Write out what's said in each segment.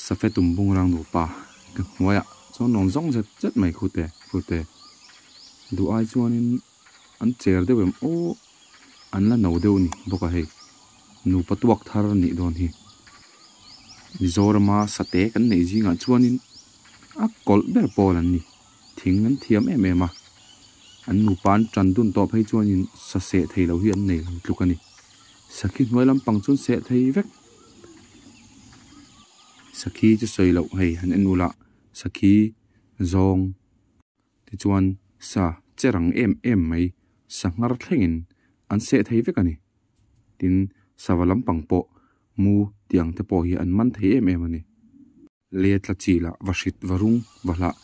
Safe tum bungrang nupa ka hnuaiah chuan rawn zawng zet zet mai khute khute duh ai chuanin an cher deuh em aw an la no deuh ni bawk a hei nupa tuak thar a nih dawn hi Mizorama sate kan neih zingah chuanin a kawlh ber pawl an ni thing an thiam em em a an nupa an tan dun tawh phei chuanin sa seh thei lo hi an nei lo tluk a ni sakhi hnuai lampang chuan seh thei vek. Sakhi chu sawi loh hei han en ula, sakhi zawng te chuan sa che rang em em mai, sa nghar thlengin an seh thei vek a ni. Tin, sava lampang pawh mu tiang te pawh hi an man thei em em a ni. Lia tla chi lah, va hrit, va rung, va hlah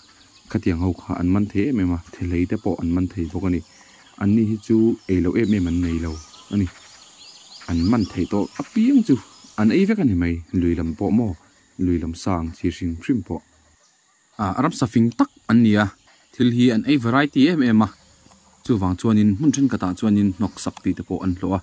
khatiang ho kha an man thei em em a, thehlei te pawh an man thei bawk a ni. Anni hi chu ei loh em em an nei lo a ni. An man thei tawh apiang chu an ei vek a ni mai, lui lam pawh maw, lui lam sa ang chi hrim hrim pawh. A ram sa fing tak an ni a, thil hi an ei variety em em a, chuvang chuanin hmun thenkhatah chuanin hnawk sak tih te pawh an hlawh a.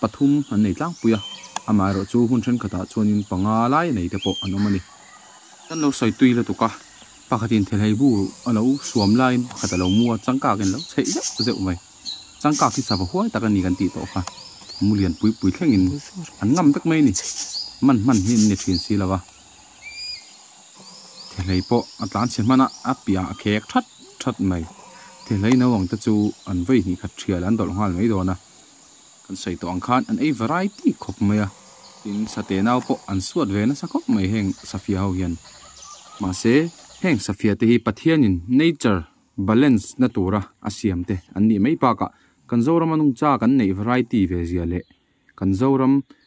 Pathum an nei tlangpui a, amaherawh chu hmun thenkhatah chuanin panga laia nei te pawh an awm a ni. Kan lo sawi tui lutuk a, pakhatin thelei bu a lo suam laiin pakhat a lo mu a, changkak in lo chheih zeuh zeuh mai. Changkak hi sava huai tak a ni kan tih tawh kha, mu lian pui pui thlengin an ngam vek mai a ni. Man hman hi an ni thin si lo a, thelei pawh a tlan chhe hmana a piah a khek that that mai. Thelei no ang te chu an vawi hnih khat ṭhiala an dawlh nghal mai dawn a. Kan sawi tawh ang khan an ei variety khawp mai a, tin Sate nau pawh an suat ve nasa khawp mai heng Safia ho hian. Mahse, heng Safia te hi Pathianin nature balance na tura a siam te an nih mai bakah kan Zoram a nungcha kan neih variety ve zia leh kan Zoram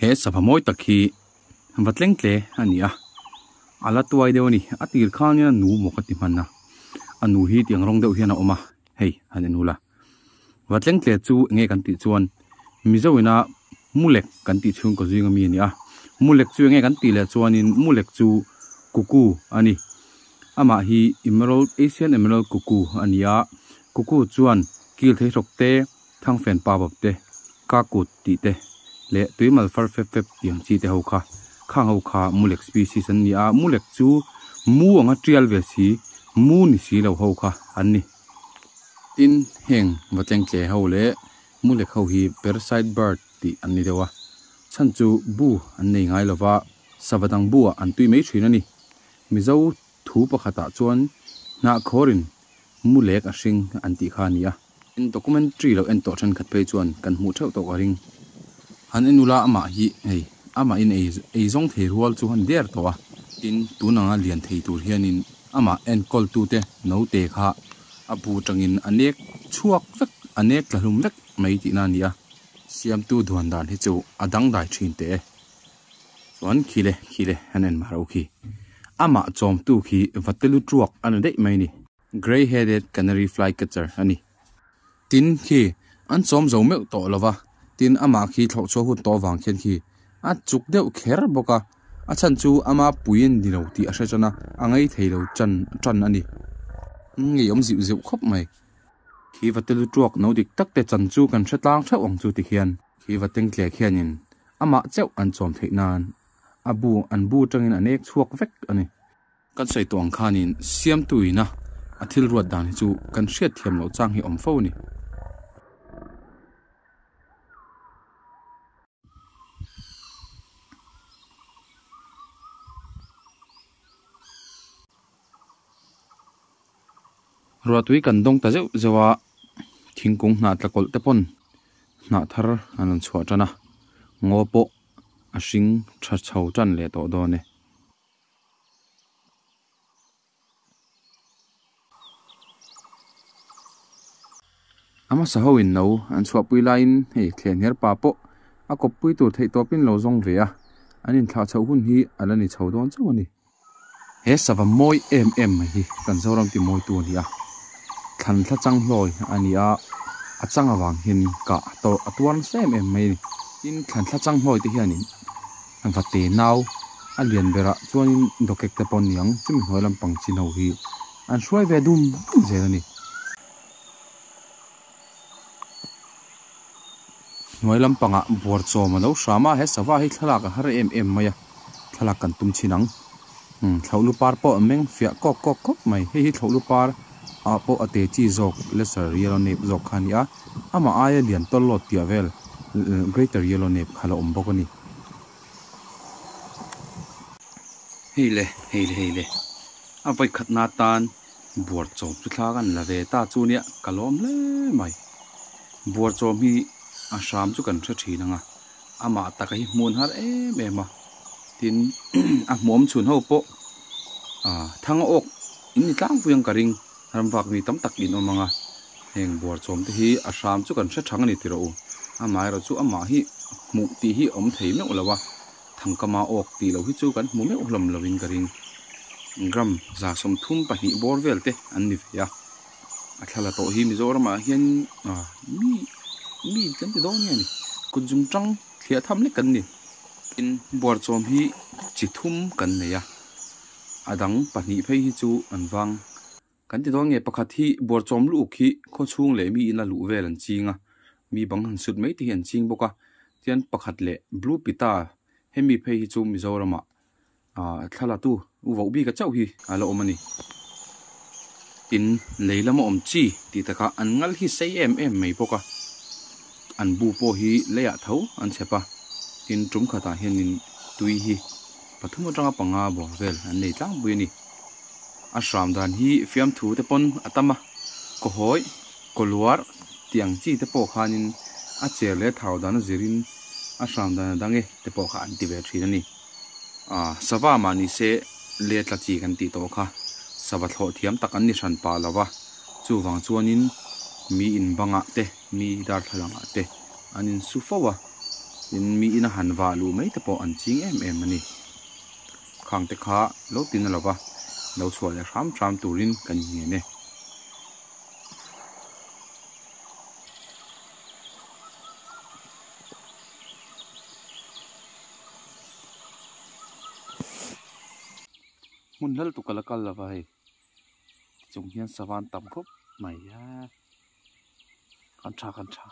He sava mawi tak hi va tleng tle a ni a, a la tuai deuh a ni. A tir khangin a nu maw ka ti hman a, a nu hi tiang rawng deuh hian a awm a, hei han en hula. Va tleng tle chu eng nge kan tih chuan Mizoina Mulek kan tih chhung kaw zinga mi a ni a, Mulek chu eng nge kan tih leh chuanin Mulek chu Kuku a ni. Amah hi Emerald Asian Emerald Kuku a ni a, Kuku chuan kil thei hrok te, Thangfen pa bap te, ka kut tih te, leh tuimal far fep fep tih ang chi te ho kha, khang ho kha mulek species an ni a, mulek chu mu anga tial ve si, mu ni si lo ho kha an ni. Tin, heng va tleng tle ho leh mulek ho hi parasite bird tih an ni deuh a, chhan chu bu an nei ngai lova, sava dang buah an tui mai thin a ni. Mizo thu pakhatah chuan hnahkhawrin mu lek a hring an tih kha a ni a. In documentary lo en tawh thenkhat phei chuan kan hmuh theuh tawh ka ring. Han en ula amah hi hei amah in ei ei zawng thei rual chu han der tawh a. Tin, tun anga lian thei tur hianin amah enkawltute naute kha a bu tangin a nek chhuak vek, a nek tla hlum vek mai tihna a ni a. Siamtu Dhuandan hi chu a dangdai thin teh e. Chuan khi le khi le an en mah ro khi. Amah chawmtu khi va te lu tuak a ni daih mai ni. Grey headed canary fly catcher a ni. Tin khi an chawm zo meuh tawh lo va, tin amah khi thlauh chhuah hun tawh vang khian khi a chuk deuh kher bawk a. A chhan chu ama pui a ni lo tih a hre chuan a a ngei thei lo chan tan a ni. Ngeiawm zeuh zeuh khawp mai. Khi va te lu tuak no dik tak te chan chu kan hre tlang theuh ang chu tikhian. Khi va teng tlek hianin amah chauh an chawm theih nan a bu an bu tangin an ek chhuak vek a ni. Kan sawi tawh ang khanin siamtu ina a thil ruat dan hi chu kan hriat thiam loh chang hi awm fo a ni. Ruatui kan dawng ta zeuh zeuh a, thingkung hnah tlakawlh te pawn hnah thar an rawn chhuah tan a, ngaw pawh a hring tha chho tan leh tawh dawn e. A hmasa ho in no an chhuahpui laiin hei thleh hner pa pawh a kawppui tur theihtawpin lo zawng ve a, an inthlahchhoh hun hi a la ni chho dawn chauh a ni. He sava mawi em em mai hi kan Zoram timawitu a ni a, thlan thla chang hlawi a ni a, a chang avang hian in kah tawrh a tuar nasa em em mai a ni. Tin, thlan thla chang hlawi te hian in va te nau a lian ber ah chuan in dokek te pawh niang chumi hnuai lampang chin ho hi an hruai ve dum dum zel a ni. Hnuai lampanga buarchawm a lo hram a, he sava hi thlalak a har em em mai a, thlalak kan tum thin ang. Umm thlauhlu par pawh a meng fiah kawk kawk kawk mai. Hei hi thlauhlu par ah pawh a te chi zawk Lesser Yellow Nape zawk kha a ni a, amah aia lian tawl lawt piah vel Greater Yellow Nape kha a lo awm bawk a ni. Hei le, hei le, hei le. A vawikhatna atan buar chawm chu thla kan la ve ta chu nia ka lawm hle mai. Buar chawm hi a hram chu kan hre thin anga amah taka hi hmun har em em a tin a hmuam chhun ho pawh ah thanga awk in ni tlangpui ang ka ring rangvak mi tam tak in awm anga heng buar chawm te hi a hram chu kan hre thang a ni tih rawh u amah erawh chu amah hi hmuh tih hi awm thei meuh lo a. Thangkama awk tih loh hi chu kan hmu meuh hlawm lovin ka ring. Gram za sawmthum pahnih bawr vel te an ni ve a. A thla la tawh hi Mizoram ah hian ah mi mi kan ti dawn nge ni. Kut zum tang thliah tham lek kan ni. Tin, buar chawm hi chi thum kan nei a. A dang pahnih phei hi chu an vang Kan ti dawn nge pakhat hi Buarchawm lûk hi khawchhung leh mi ina luh vel an ching a, mi bang han sut mai te hi an ching bawk a, tian pakhat leh Blue Pita hemi phei hi chu Mizorama thla latu u vauh bika chauh hi a la awm a ni. Tin, lei lama awm chi tih takah an ngal hi sei em em mai bawk a. an bu pawh hi leiah tho an chhep a, tin tum khatah hianin tui hi pathum atanga panga bawr vel an nei tlangpui a ni. A hram dan hi fiamthu te pawn a tam a, kawhawi, kawluar tih ang chi te pawh khanin a cher leh thau dan a zirin a hram dan a dang e te pawh kha an ti ve thin a ni. Aah sava mah ni se le tla chi kan tih tawh kha sava thlawh thiam tak an ni hran pah lo a, chuvang chuanin mi in bangah te, mi darthlalang te an in su fo a, tin mi ina han vah luh mai te pawh an ching em em a ni. Khang te kha lo tin a lo va, lo chhuah leh hram hram turin kan in ngen e. Hmun hlal tuk a la kal lo va hei. chung hian savan tam khawp mai a kan tha kan tha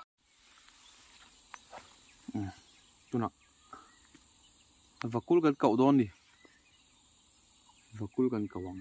umm tunah vakul kan koh dawn ni vakul kan koh ang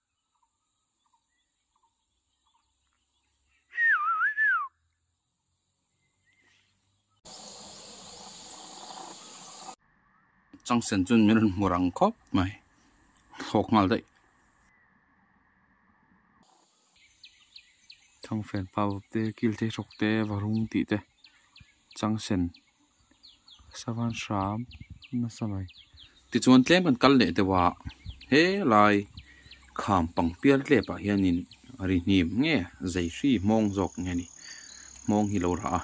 chang sen chuan min rawn hmu rang khawp mai thlawk nghal daih thang fen pau te kil te hrok te va rum tih te chang sen. Savan hram nasa mai. Tichuan tlem kan kal leh deuh a, helai kham pang pial tlep ah hian in a ri hnim nge zei hri hmawng zawk nge ni. Hmawng hi lo rah a,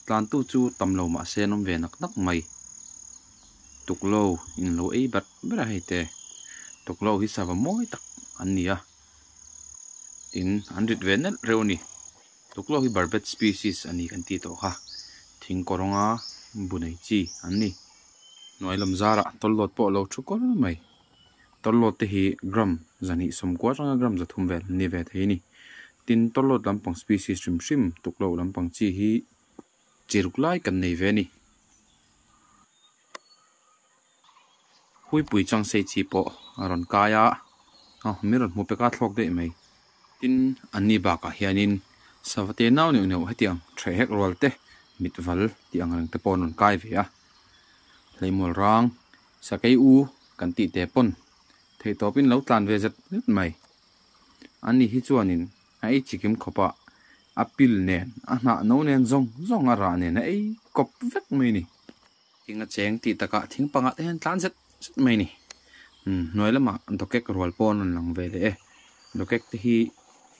tlan tu chu tam lo mah se an awm ve nak nak mai. Tuklo in lo ei ber ber a hei te. Tuklo hi sava mawi tak an ni a. Tin an rit ve nelh reuh a ni. Tuklo hi barbet species a ni kan ti tawh kha, thing kawrawnga bu nei chi an ni. Hnuai lam zarah tawllawt pawh a lo thu kawr mai. Tawllawt te hi gram za hnih sawm kual ranga gram za thum vel ni ve thei a ni. Tin, tawllawt lampang species hrim hrim tuklo lampang chi hi chi ruk lai kan nei ve a ni. Puipui Changsei chi pawh a rawn kai a, aw min rawn hmu pek a thlawk daih mai. Tin, an ni bakah hianin Savate nau neuh neuh hetiang ṭheh hek rual te, mitval tih ang reng te pawh an rawn kai ve a. Hleihmual rang, Sakei u kan tih teh pawn theih tawpin lo tlan ve zet zet mai. An ni hi chuanin a ei chikim khawp a, a pil nen, a hnah no nen zawng zawng a rah nen a ei kawp vek mai a ni. Thing a cheng tih takah thing panga te hian tlan zet zet mai a ni. Hnuai lama dokek rual pawh a rawn lang ve leh e. Dokek te hi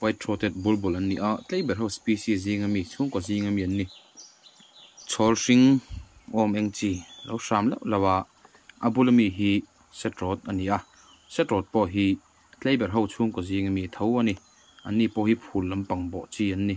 white throated bulbul an ni a, tlei ber ho species zinga mi, chhungkaw zinga mi an ni. Chhawl hring awm eng chi lo hram lauh lauh a, a bula mi hi setroad a ni a, setroad pawh hi tlei ber ho chhungkaw zinga mi tho a ni. An ni pawh hi phul lampang bawh chi an ni.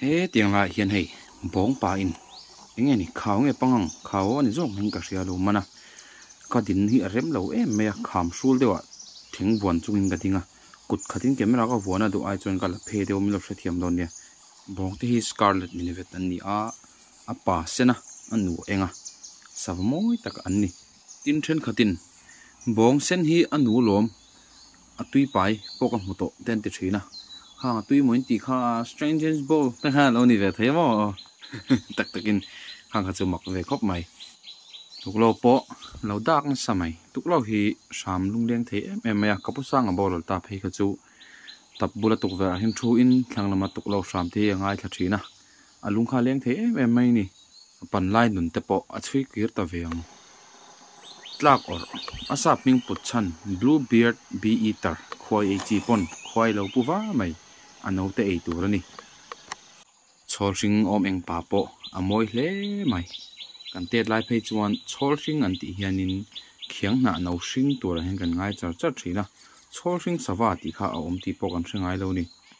Hetiang lah hian hei bawng pa in eng nge ni khau nge pang ang khau ani zawk hming ka hria lo man a ka din hi a rem lo em mai a kham hrul deuh ah thing buan chung in ka ding a kut khat in camera ka vuan a duh ai chuan ka la phe deuh min lo hrethiam dawn nia bawng te hi scarlet mini vet an ni a. A pa sena, a nu enga sava mawi tak an ni. Tin, thenkhatin bawng sen hi a nu lawm, a tuipai pawh ka hmu tawh te an ti thin a. Khanga tuimawiin ti kha strangers ball te kha a lo ni ve thei maw tak takin khang kha chu mak ve khawp mai. Tuklo pawh lo dak nasa mai. Tuklo hi hram lungleng thei em em mai a, Kapusanga bawrlawl ta phei kha chu tap bula tukverh ahin thuin thlang lama tuklo hram te hi a ngaithla thin a, A lung kha a leng thei em em mai ni. A pan lai nun te pawh a chhui kir ta ve ang. Tlak awrh. A sap hming put chhan, Blue beard bee eater, khuai ei chi pawn khua i lo pu va mai. A no te ei tur a ni. Chhawl hring awm eng pa pawh a mawi hle mai. Kan tet lai phei chuan chhawl hring an tih hian in khiang hnah no hring tur ah hian kan ngai char char thin a. Chhawl hring sava tih kha a awm tih pawh kan hre ngai lo ni.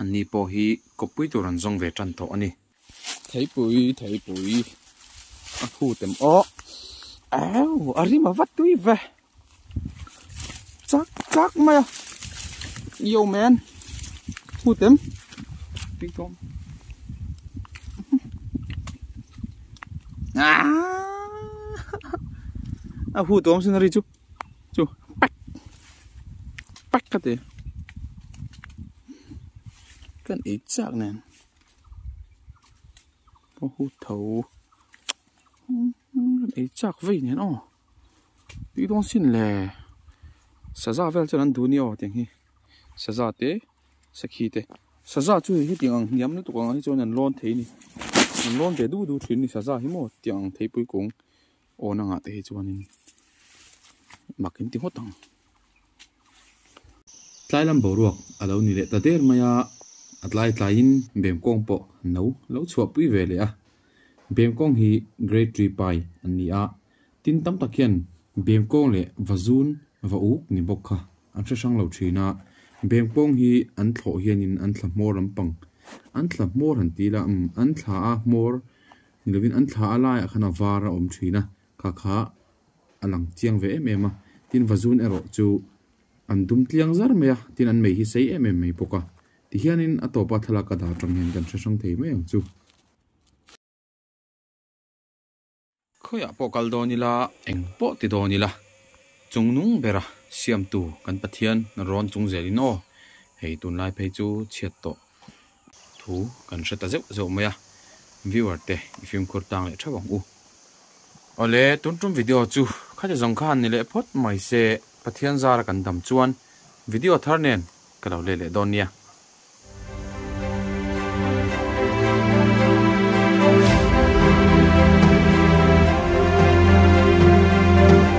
An ni pawh hi kawppui tur an zawng ve tan tawh a ni. Theipui, Theipui, a thu tem awh. Au, a rim a va tui ve. Chak chak mai a. Yo man. Thu tem. Tui tawm. Ah! A thu tawm sin a ri chu. chu pak pak ka ti kan ei chak nen ho hu tho kan ei chak vei nen aw tui dawn sin le saza vel chuan an duh ni aw tiang hi saza te sakhi te saza chu hetiang ang hniam lutuk ang hi chuan an lawn thei a ni an lawn ve duh duh thin a ni saza hi maw tiang ang thei pui kung Awn angah te hi chuanin mak in ti ngawt ang. Tlailam boruak a lo ni leh ta der mai a, a tlai tlaiin Bemkawng pawh no lo chhuah pui ve leh a. Bemkawng hi Grade Three pai an ni a, tin tam tak hian Bemkawng leh va zun va uk ni bawk kha an hre hrang lo thin a. Bemkawng hi an thlawh hianin an thla hmawr lampang an thla hmawr han ti ila umm an thlaa hmawr Ni lovin an thla a laiah khan a var a awm thin a, kha kha a lang chiang ve em em a. Tin vazun erawh chu an dum tliang zar mai a, tin an mei hi sei em em mai bawk a. Ti hianin a tawpa thlalak a dar tang hian kan hre hrang thei mai ang chu. Khawiah pawh kal dawn ila, eng pawh ti dawn ila, chung nung bera siamtu kan Pathian rawn chungzelin aw, hei tunlai phei chu chhiat tawh. Thu kan hre ta zeuh zeuh mai a, viewer te i fimkhur tang leh theuh ang u. Awle tun tum video chu khati zawng khan ni leh phawt mai se Pathian zara kan dam chuan video thar nen ka lo let leh dawn nia.